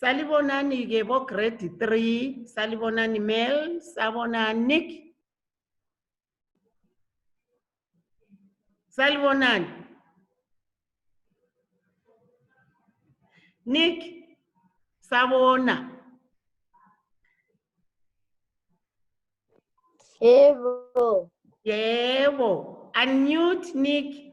Salibonani ke bo grade 3, salibonani Mel, sabona Nick. Salibonani. Nick, sabona. Evo. Yebo. Unmute Nick.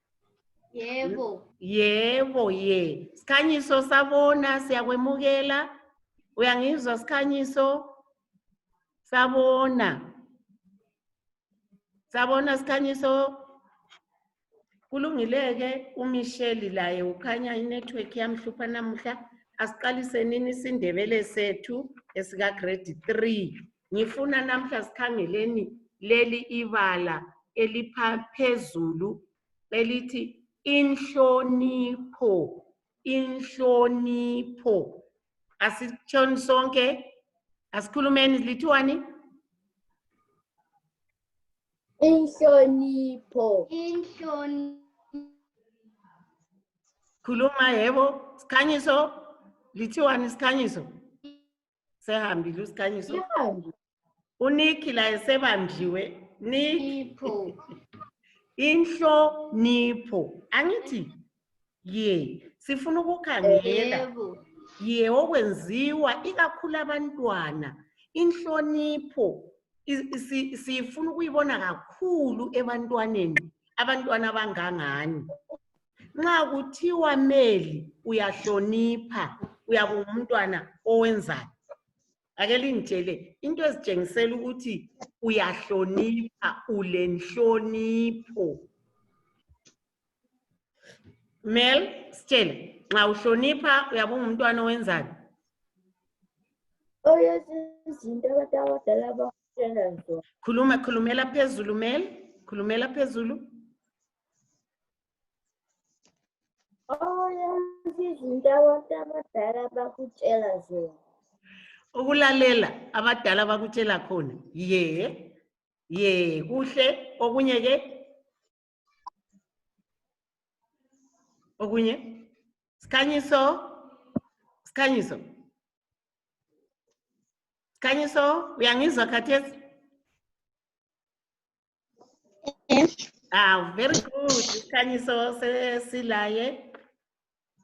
Yebo. Yebo, ye. Sikhanyiso sabona, siyakwemukela. Uyangizwa sikhanyiso? Sabona. Sabona sikhanyiso. Kulungileke uMichelle laye ukhanya inetwork yamhlupha namuhla. Asiqalise nini isindebele sethu esika grade 3. Ngifuna namhla sikhangeleni leli ibala eliphezulu elithi inhlonipho. Inhlonipho. Asitshoni sonke, asikhulumeni lithiwani? Inhlonipho. Inhlonipho. Khuluma yebo, sikhanyiso, lithiwani sikhanyiso? sehambile usikhanyiso Ihambi. uniki laye sebambiwe niki Ipho. inhlonipho angithi ye sifuna ukukhangela Yebo. ye okwenziwa ikakhulu abantwana inhlonipho i- si- siyifuna ukuyibona kakhulu ebantwaneni abantwana abangangani nxa kuthiwa meli uyahlonipha uyabe ungumntwana owenzayo ake lingitshele into ezitshengisela ukuthi uyahlonipha ulenhlonipho mel sitshele nxa uhlonipha uyabe ungumntwana owenzayo oyezinto abantu abadala abakutshela zona khuluma khulumela phezulu mel khulumela phezulu ukulalela abadala bakutshela khona ye ye kuhle okunye ke okunye sikhanyiso sikhanyiso sikhanyiso uyangizwa khathesi Ah, very good. Sikhanyiso se- silaye.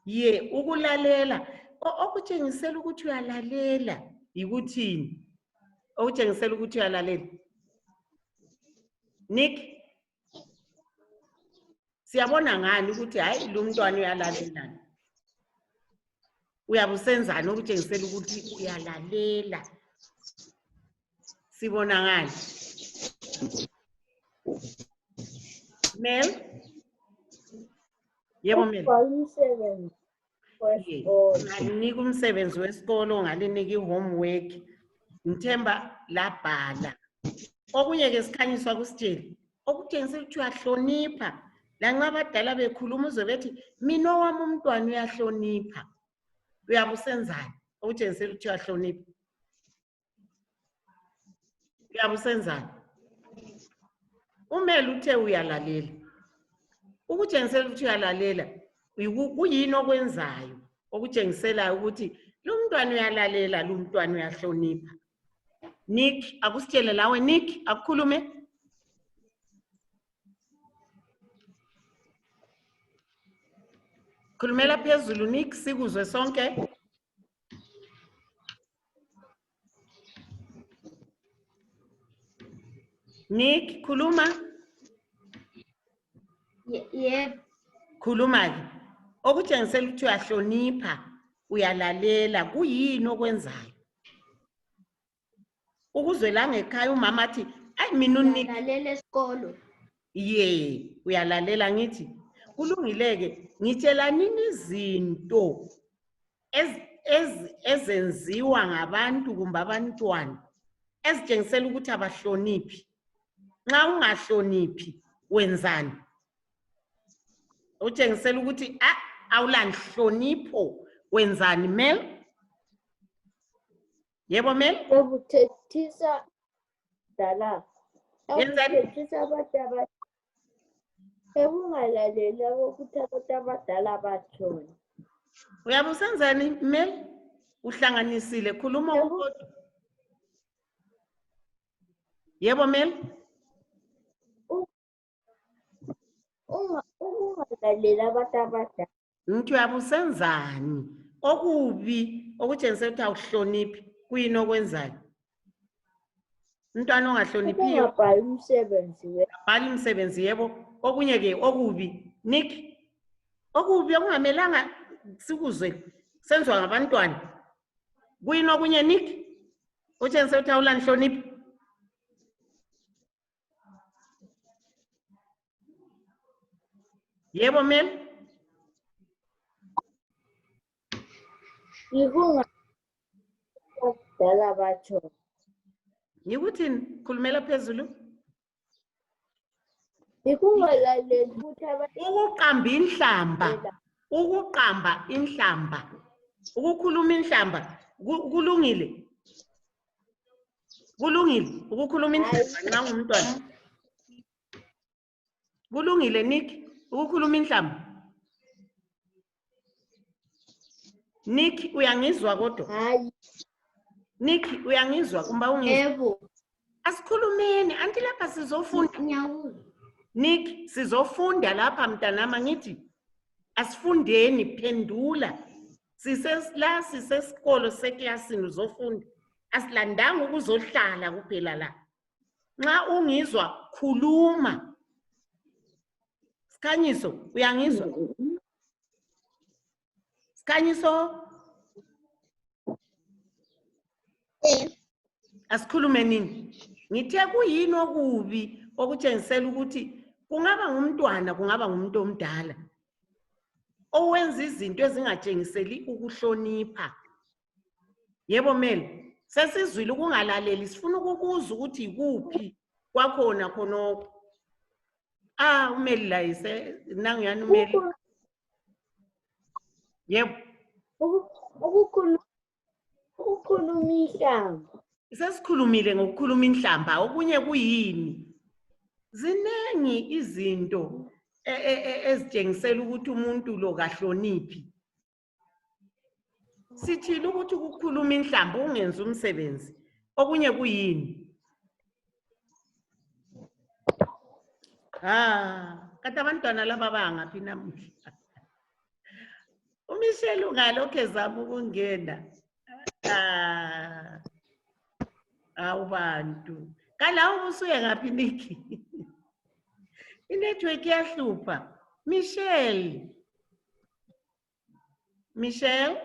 Ye, ukulalela. O- Okutshengisela ukuthi uyalalela yikuthini? Okutshengisela ukuthi uyalalela. Nick, siyabona ngani ukuthi hayi lo mntwana uyalalelana uyabe usenzani okutshengisela ukuthi uyalalela sibona ngani mel yebo mel wesikolo. ngalinika umsebenzi wesikolo ngalinika i-homework ngithemba labhala okunye ke sikhanyiswa kusitshele okutshengisa ukuthi uyahlonipha lanxa abadala bekhuluma uzwe bethi mina owami umntwana uyahlonipha uyabe usenzani okutshengisela ukuthi uyahlonipha yabo usenzani umele uthe uyalalela ukutshengisela ukuthi uyalalela kuyini okwenzayo okutshengiselayo ukuthi lo mntwana uyalalela lo mntwana uyahlonipha nick akusitshele lawe nick akukhulume khulumela phezulu nick sikuzwe sonke Nick, kuluma. Ye- Yebo. Khuluma-ke. Okutshengisela ukuthi uyahlonipha, uyalalela, kuyini okwenzayo? ukuze langekhaya umama athi ayi mina unika lalela esikolo ye uyalalela ngithi kulungileke ngitshelanini izinto ezenziwa ngabantu kumbe abantwana ezitshengisela ukuthi abahloniphi nxa ungahloniphi wenzani utshengisela ukuthi ah, awulanhlonipho wenzani mel yebo mem Okuthethisa dala. Yenzani? Okuthethisa abantu abadala. Ekungalaleli okuthi abantu abadala batshoni. uyabe usenzani mem uhlanganisile khuluma Yebo. ukodwa yebo mem Unga- Ukungalalela abantu abadala. Mntu yabo usenzani? Okubi okutshengisa ukuthi awuhloniphi kuyini okwenzayo? Umntwana ongahloniphiyo Ukungabhali umsebenzi we. bhala imisebenzi yebo okunye ke okubi nik okubi okungamelanga sikuzwe senziwa ngabantwana kuyini okunye nik utshengise ukuthi awulanhloniphi Yeah, one man. Ihunga dala batsho. Yikuthini? Khulumela phezulu. Ikungalaleli ukuthi abantu Ukuqamba inhlamba. Ukuqamba inhlamba. Ukukhuluma inhlamba. Ku- Kulungile. kulungile ukukhuluma inhlamba nxa ngumntwana kulungile nick ukukhuluma inhlamba nick uyangizwa kodwa hayi nick uyangizwa kumba ungizwa yebo asikhulumeni anti lapha sizofunda ngiyawuzwa nick sizofunda lapha mntanami angithi asifundeni phendula sisesilasi sesikolo seklasini uzofunda asilandanga ukuzohlala kuphela la nxa ungizwa khuluma sikhanyiso uyangizwa sikhanyiso asikhulume nini ngithe kuyini okubi okutshengisela ukuthi kungaba ngumntwana kungaba ngumuntu omdala owenza izinto ezingatshengiseli ukuhlonipha yebo mele sesizwile ukungalaleli sifuna ukukuza ukuthi yikuphi kwakhona khonokho ah umeli laye nanguyani umeli yebo Ukukhuluma inhlamba. Sesikhulumile ngokukhuluma inhlamba, okunye kuyini? Zinengi izinto e- e- e- ezitshengisela ukuthi umuntu lo kahloniphi. Sithini ukuthi ukukhuluma inhlamba ungenzi umsebenzi, okunye kuyini? Ah, kati abantwana laba bangaphi namuhla? UMichelle ungalokhu ezama ukungena. Ah, awu bantu. Kalawu ubusuye ngaphi Nikki? Inetwork iyahlupha. Michelle. Michelle?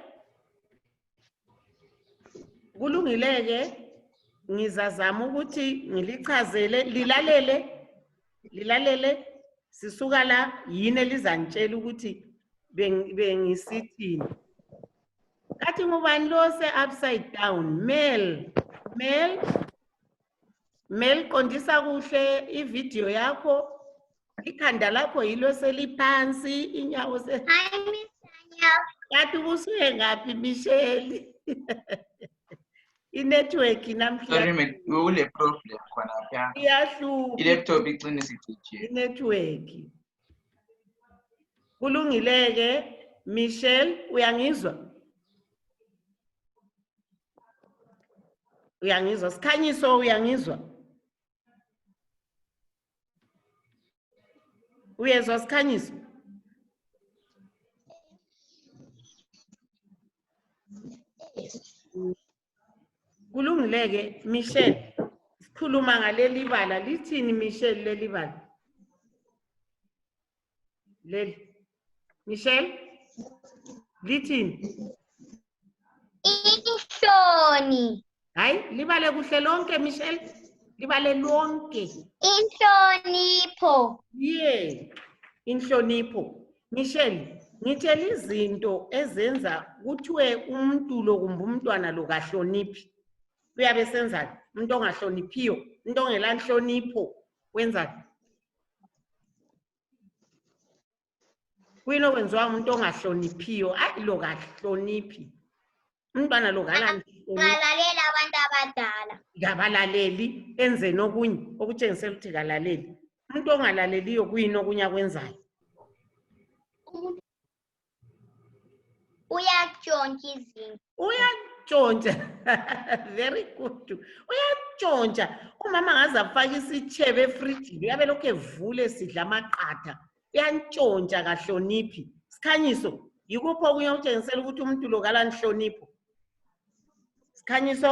Kulungile-ke ngizazama ukuthi ngilichazele lilalele lilalele sisuka la yini elizangitshela ukuthi bengisithini kathi ngubani lo se-upside down male male meliqondisa kuhle ividiyo yakho ikhanda lakho yilo seliphansi inyawo se Hi, Miss Daniel. kathi ubusuye ngaphi misheli inetwork namhla Sorry, mate. We will have problem khona lapha. iyahlupha I-laptop icine isicije. inetwork kulungile-ke michelle uyangizwa uyangizwa sikhanyiso uyangizwa uyezwa sikhanyiso kulungile-ke michelle sikhuluma ngaleli bala lithini michelle leli bala Lel. Michelle? Lithini? Inhloni. Hayi, libale kuhle lonke Michelle. Libale lonke. Inhlonipho. Yeah. Inhlonipho. Michelle, ngithela izinto ezenza kuthiwe umuntu lo kumbe umntwana lo kahloniphi. Uyabe senzani? Umuntu ongahloniphiyo, umuntu ongelanhlonipho wenzani? kuyini okwenziwa umuntu ongahloniphiyo ayi lo kahloniphi umntwana lo kalalalalela abantu abadala kabalaleli enzeni okunye okutshengisela ukuthi kalaleli umuntu ongalaleliyo kuyini okunye akwenzayo Uyatshontsha izinto. Uyatshontsha. Very good. Uyatshontsha. Umama ngaze afake isitshebe efrijini uyabe lokhu evule sidla amaqatha. Uyantshontsha kahloniphi. Sikhanyiso, yikuphi okunye okutshengisela ukuthi umuntu lo kalanhlonipho? Sikhanyiso?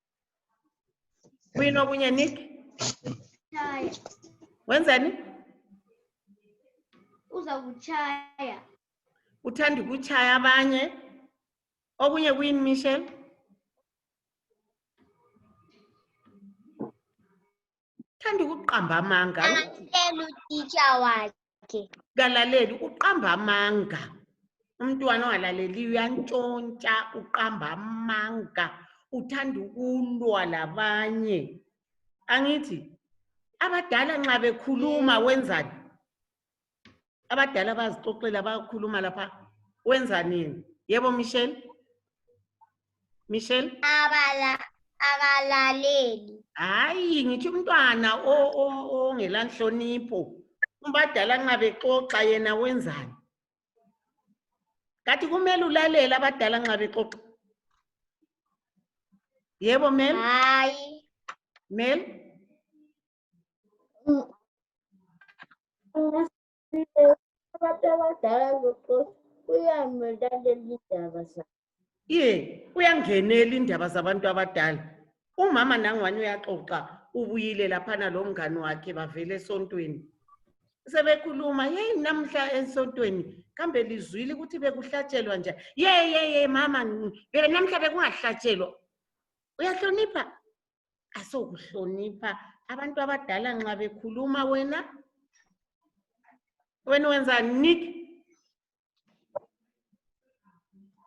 Kuyini okunye Nick? Tshaya. Wenzani? Uza kutshaya. Uthanda ukutshaya abanye. Okunye kuyini Michelle? Uthanda ukuqamba amanga. Tshela utitsha wakhe. yakhe kalaleli uqamba amanga umntwana ongalaleliyo uyantshontsha uqamba amanga uthanda ukulwa labanye angithi abadala nxa bekhuluma wenzani abadala bazixoxela bayakhuluma lapha wenzanini yebo michelle Michelle? Abala, akalaleli. Hayi, ngithi umntwana o- o- ongela nhlonipho. Abadala nxa bexoxa yena wenzani? Kathi kumele ulalele abadala nxa bexoxa. Yebo, Mel? Hayi. Mel? abantu abadala zoxoxa uyamlalela indaba zakhe ye uyangenela indaba zabantu abadala umama nangwani uyaxoxa ubuyile laphana lo mngane wakhe bavele esontweni sebekhuluma yeyi namhla esontweni kambe lizwile ukuthi bekuhlatshelwa nje ye ye ye mama namhla bekungahlatshelwa uyahlonipha asokuhlonipha abantu abadala nxa bekhuluma wena wena wenza nik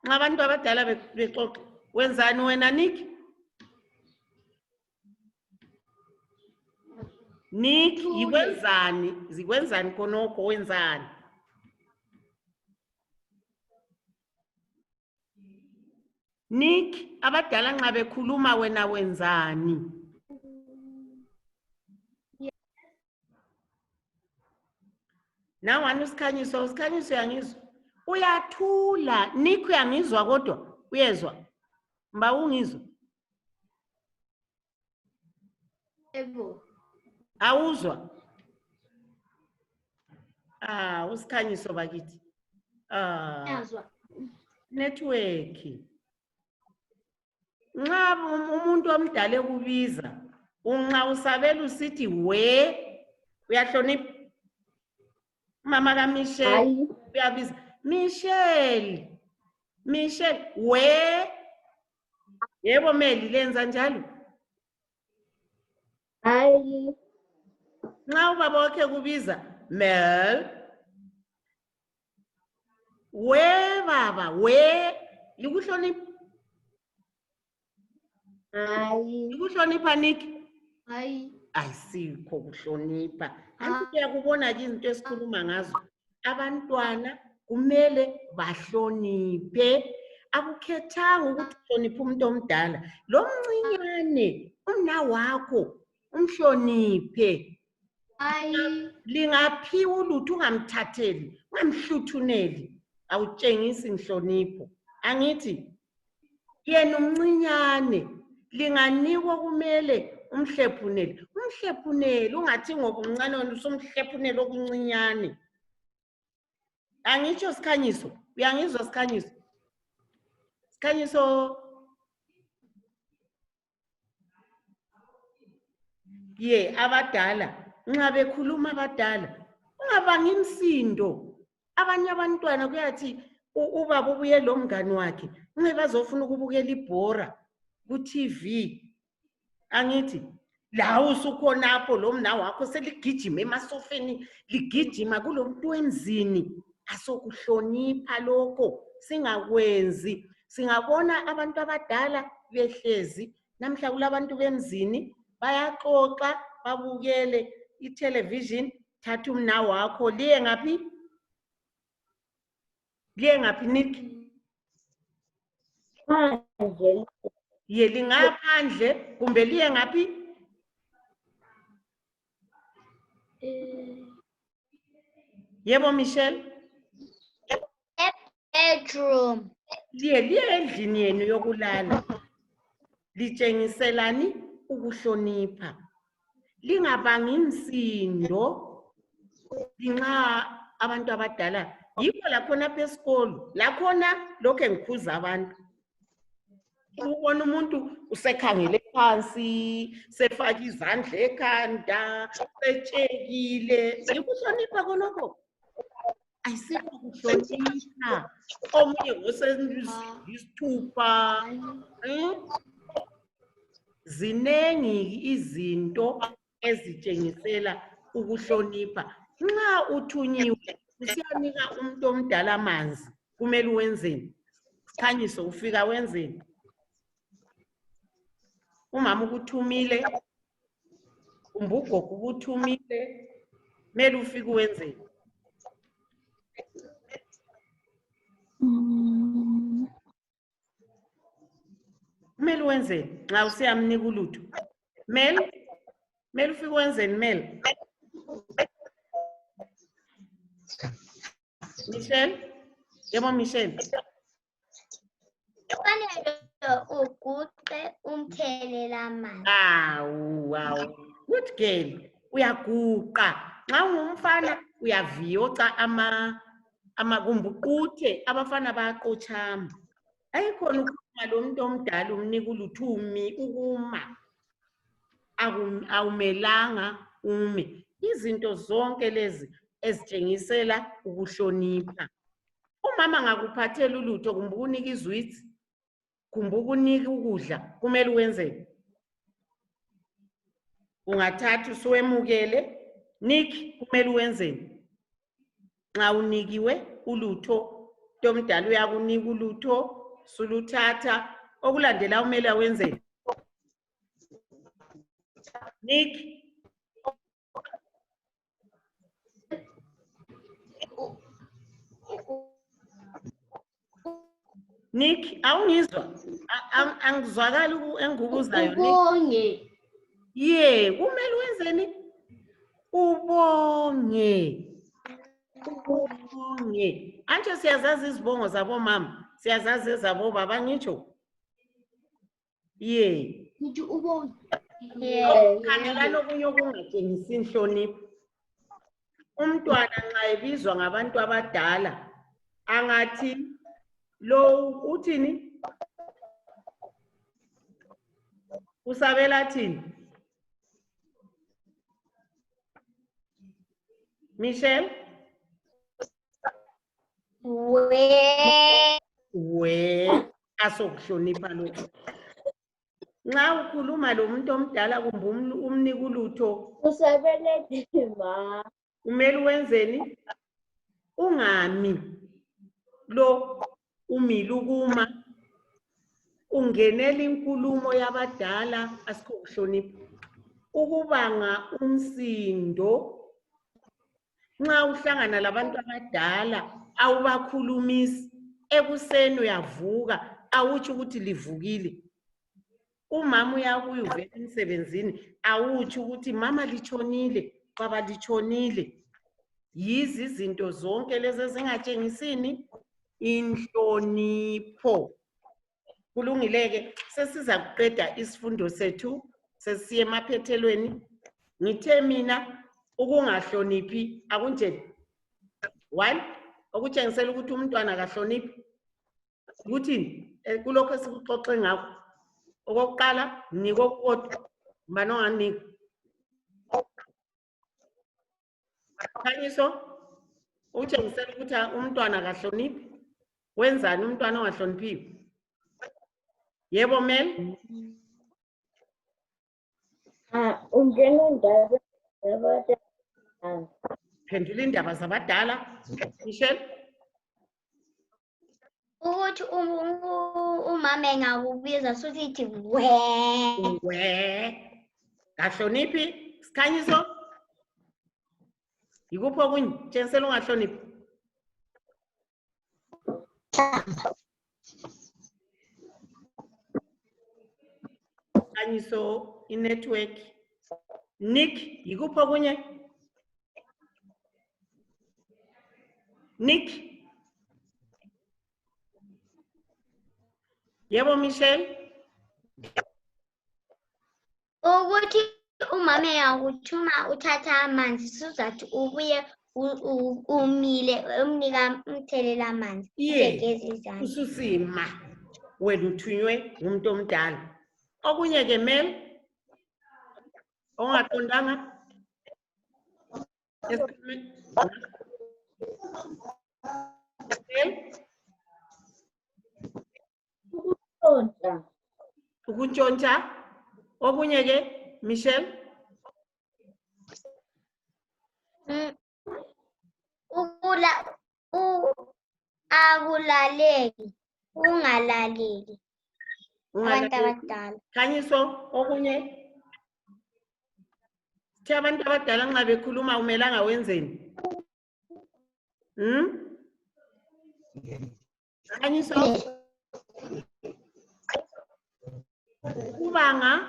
nxa abantu abadala bexoxa wenzani wena nik nik yikwenzani zikwenzani khonokho wenzani Nick, abadala nxa bekhuluma wena wenzani? Nangwani usikhanyiso, usikhanyiso uyangizwa? Uyathula, Nick uyangizwa kodwa, uyezwa? Mba ungizwa? Yebo. Awuzwa? Ah, usikhanyiso bakithi. Ah, Yazwa. network. Nxa um- umuntu omdala ekubiza, unxa usabela usithi we, uyahlonipha. Mama ka Michelle Hayi. uyabiza, Michelle. Michelle, we. Yebo Meli lenza njalo. Hayi. Nxa ubaba wakhe kubiza Mel. We baba, we likuhlonipha. Hayi. Likuhlonipha Nick. Hayi. Ayisikho kuhlonipha. Anti uyakubona ke izinto esikhuluma ngazo. abantwana kumele bahloniphe akukhethanga ukuthi uhloniphe umuntu omdala lomncinyane umnawakho umhloniphe lingaphiwa ulutho ungamthatheli ungamhluthuneli awutshengisi nhlonipho angithi yena umncinyane linganikwa kumele umhlephunele umhlephunele ungathi ngoba umncane wena usumhlephunele okuncinyane angitsho sikhanyiso uyangizwa sikhanyiso sikhanyiso ye abadala nxa bekhuluma abadala ungabangi imsindo abanye abantwana kuyathi ubaba ubuye lomngane wakhe nxe bazofuna ukubukela ibhora ku-tv angithi lawo usukhonapho lomna wakho seligijima emasofeni ligijima kulomntu wemzini asokuhlonipha lokho singakwenzi singabona abantu abadala behlezi namhla kulabantu bemzini bayaxoxa babukele itelevision thatha umna wakho liye ngaphi liye ngaphi nik ye lingaphandle kumbe liye ngaphi eh. yebo michelle bedroom liye liye endlini yenu yokulala litshengiselani ukuhlonipha lingabangi msindo nxa abantu abadala yikho lakhona apha esikolo lakhona lokhu engikhuza abantu ubona umuntu usekhangele phansi sefake izandla ekhanda setshekile yikuhlonipha konokho ayisikho kuhlonipha omunye ngoseisithupha hmm? zinengi izinto ezitshengisela ukuhlonipha nxa uthunyiwe usiyanika umuntu omdala amanzi kumele wenzeni sikhanyiso ufika wenzeni umama ukuthumile kumbe ugogo ukuthumile kumele ufike wenzeni mm. kumele wenzeni nxa usiyamnika ulutho mel mel ufike wenzeni mel michelle yebo michelle kufanele uguqe umthelela amanzi awu awu good girl uyaguqa nxa ungumfana uyaviyoca ama ama kumbe uquthe abafana bayaqotshama ayikhona ukukhuluma lomuntu omdala umnika ulutho umi ukuma Akum- awumelanga ume izinto zonke lezi ezitshengisela ukuhlonipha umama ngakuphathela ulutho kumbe ukunika izwitsi kumbe ukunika ukudla kumele wenzeni ungathatha usuwemukele nik kumele wenzeni nxa unikiwe ulutho ntomdala uyakunika ulutho suluthatha okulandela umele wenzeni nik Nick, awungizwa? A- ang- Angizwakali uku- engikubuzayo Nick. Ubonge. Ye, kumele wenzeni? Ubonge. Ubonge. Antsho siyazazi izibongo zabomama, siyazazi ezabobaba ngitsho. yey Did you ubonge? khangela lokunye okungatshengisi nhlonipho umntwana nxa ebizwa ngabantu abadala angathi lowu uthini usabela thini michelle เว เวasokuhlonipha lokho nxa ukhuluma lomuntu omdala kumbe umlu- umnika ulutho Usebelethe ma. kumele wenzeni ungami lo umile ukuma ungenela inkulumo yabadala asikho kuhlonipha ukubanga umsindo nxa uhlangana labantu abadala awubakhulumisi ekuseni uyavuka awutsho ukuthi livukile umama uyabuya uvela emsebenzini awutsho ukuthi mama litshonile baba litshonile yizi izinto zonke lezi ezingatshengisini inhlonipho kulungileke sesiza kuqeda isifundo sethu sesiye emaphethelweni ngithe mina ukungahloniphi akunjeni one okutshengisela ukuthi umntwana akahloniphi ukuthini eh, kulokho esikuxoxe ngakho okokuqala nikokukodwa mbani onganika Khanyiso utshengisela ukuthi umntwana kahloniphi wenzani umntwana ongahloniphiyo yebo mel ah, ungena indaba phendula indaba zabadala michelle ukuthi um- um- u- umama engakubiza susithi we we kahloniphi sikhanyiso yikuphi okunye tshengisela ungahloniphi Kanyiso, i-network. Nick, yikuphi okunye? Nick? Yebo, Michelle? Ukuthi umama yakuthuma uthatha amanzi sizathu ubuye umile umnika umthelela amanzi Ye. ugeze izandla ususima wena uthunywe ngumuntu omdala okunye ke mel ongaqondanga Esikhulumi- Mel? ukuntshontsha ukuntshontsha okunye ke michelle mm, ukula u akulaleki ungalaleli abantu abadala khanyiso okunye Thi abantu abadala nxa bekhuluma umelanga wenzeni? Hmm? Can you solve? Kubanga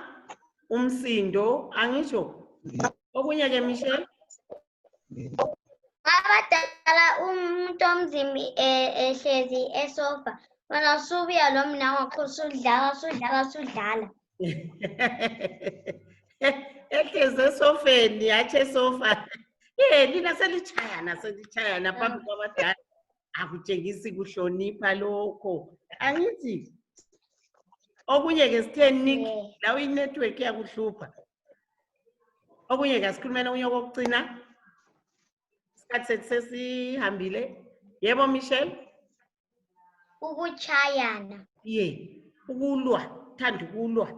umsindo angisho. Okunye ke Michelle. Abadala umuntu omzimbi eh, ehlezi esofa. Wena usubuya lo mna wakho usudlala usudlala usudlala. Ehlezi esofeni yathi esofa. Eh lina selichayana selichayana phambi kwabadala. akutshengisi kuhlonipha lokho angithi okunye ke sithe nik lawo inetwork iyakuhlupha okunye ke asikhulumela okunye okokucina isikhathi sethu sesihambile yebo michelle ukuchayana ye ukulwa thanda ukulwa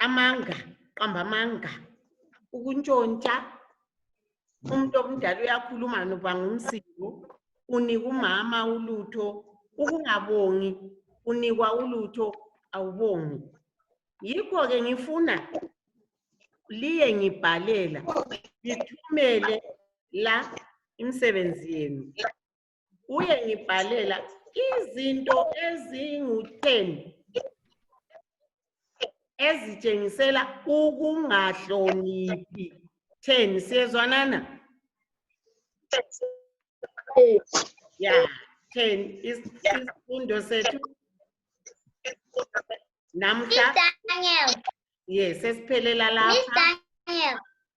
amanga qamba amanga ukuntshontsha umuntu omdala uyakhuluma noba ngumsindo unika umama ulutho ukungabongi unikwa ulutho awubongi yikho-ke ngifuna liye ngibhalela ngithumele la imisebenzi yenu uye ngibhalela izinto ezingu-ten ezitshengisela ukungahloniphi ten siyezwanana ya ten isifundo sethu namhla yes esiphelela lapha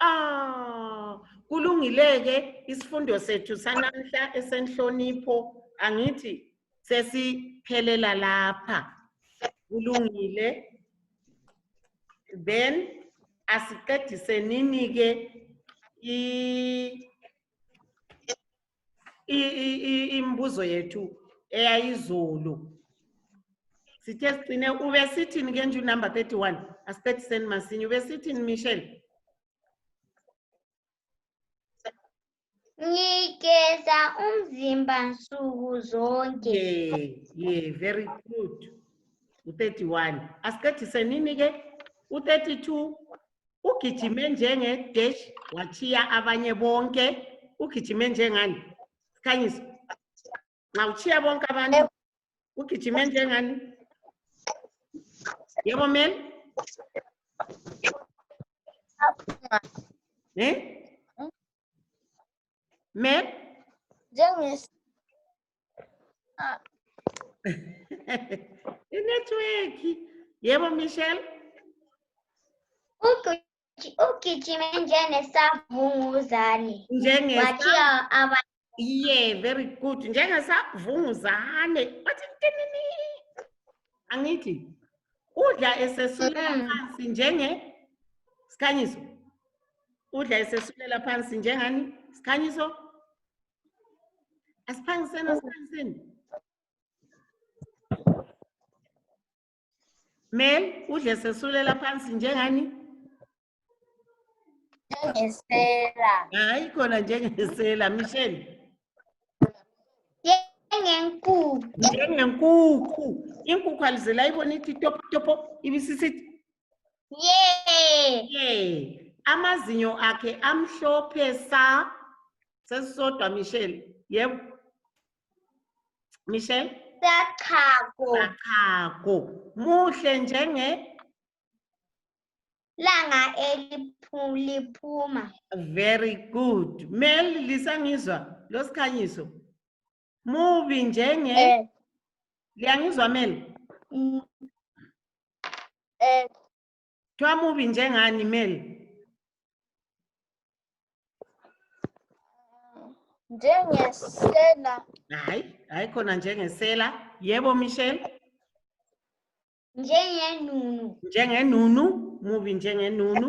Ah, kulungileke isifundo sethu sanamhla esenhlonipho angithi sesiphelela lapha. Kulungile. Then asiqedise nini ke i imbuzo yethu eyayizulu sithe sigcine ubesithini ke nje unumber 31 asibethisen masinye ubesithini michelle ngigeza umzimba nsuku zonke yeah, yeah very good u-31 asiqedise nini ke u-32 ugijime njenge dash wachiya abanye bonke ugijime njengani sikhanyisa nxa uchiya bonke abantu ugijime njengani yebo mel ne mel njengesi Ah. Inetwork. Yebo Michelle? Uku- Ugijima njengesavunguzane. Njenge Wathiya aba Yeah, very good. Njengesavunguzane. Wathi tinini. Angithi udla esesulela Mm. phansi njenge sikhanyiso. Udla esesulela phansi njengani? Sikhanyiso? Es kann sein, es kann sein. Mel, udle sesulela phansi njengani? Njengesela. Hayi khona njengesela, Michelle. Njengenkukhu. Njengenkukhu. Inkukhu alizela ibona ithi topo topo ibisisithi Yay! Yay! Amazinyo akhe amhlophe sa. Sesisodwa Michelle. Yebo. Michelle? Sachako. Sachako. Muhle njenge langa eliphuma. Very good. Mel lisangizwa losikhanyiso. Mubi njenge. Eh, Liyangizwa Mel? mm, eh, Kuthiwa mubi njengani Mel? njengesela Hayi, hayi khona njengesela. Yebo Michelle, njengenunu njengenunu, mubi njengenunu.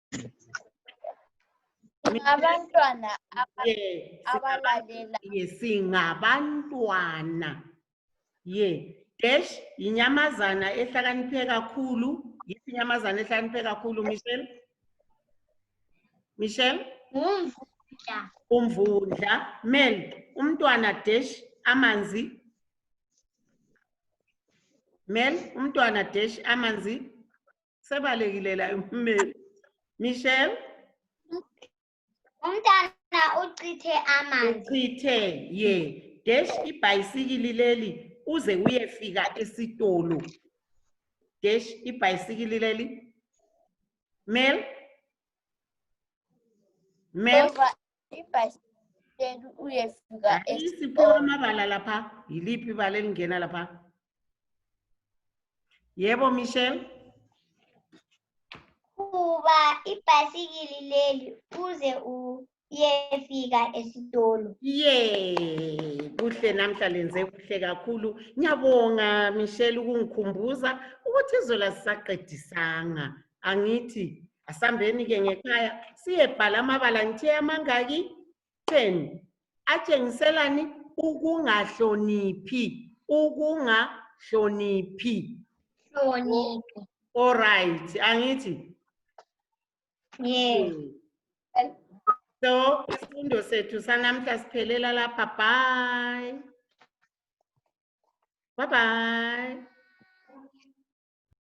Abantwana Ye, abalalelayo. ye singabantwana ye dash yinyamazana ehlakaniphe kakhulu yiphi inyamazana ehlakaniphe kakhulu michelle michelle Ngumvundla. umvundla mel umntwana dash amanzi mel umntwana dash amanzi sebalekile laye ummeli michelle umntana uchithe amanzi uchithe ye dash ibhayisikili leli uze uyefika esitolo dash ibhayisikili leli mel mel ibhasikeli uyefika isiphiwe amabala lapha yiliphi ibala elingena lapha yebo michelle qhuba ibhasikili leli uze uyefika esitolo ye kuhle namhla lenze kuhle kakhulu ngiyabonga michelle ukungikhumbuza ukuthi izola sisaqedisanga angithi asambeni ke ngekhaya siyebhala amabala ngithe amangaki 10 atshengiselani ukungahloniphi ukungahloniphi hloniphi all right angithi yes so isifundo sethu sanamhla siphelela lapha bye bye bye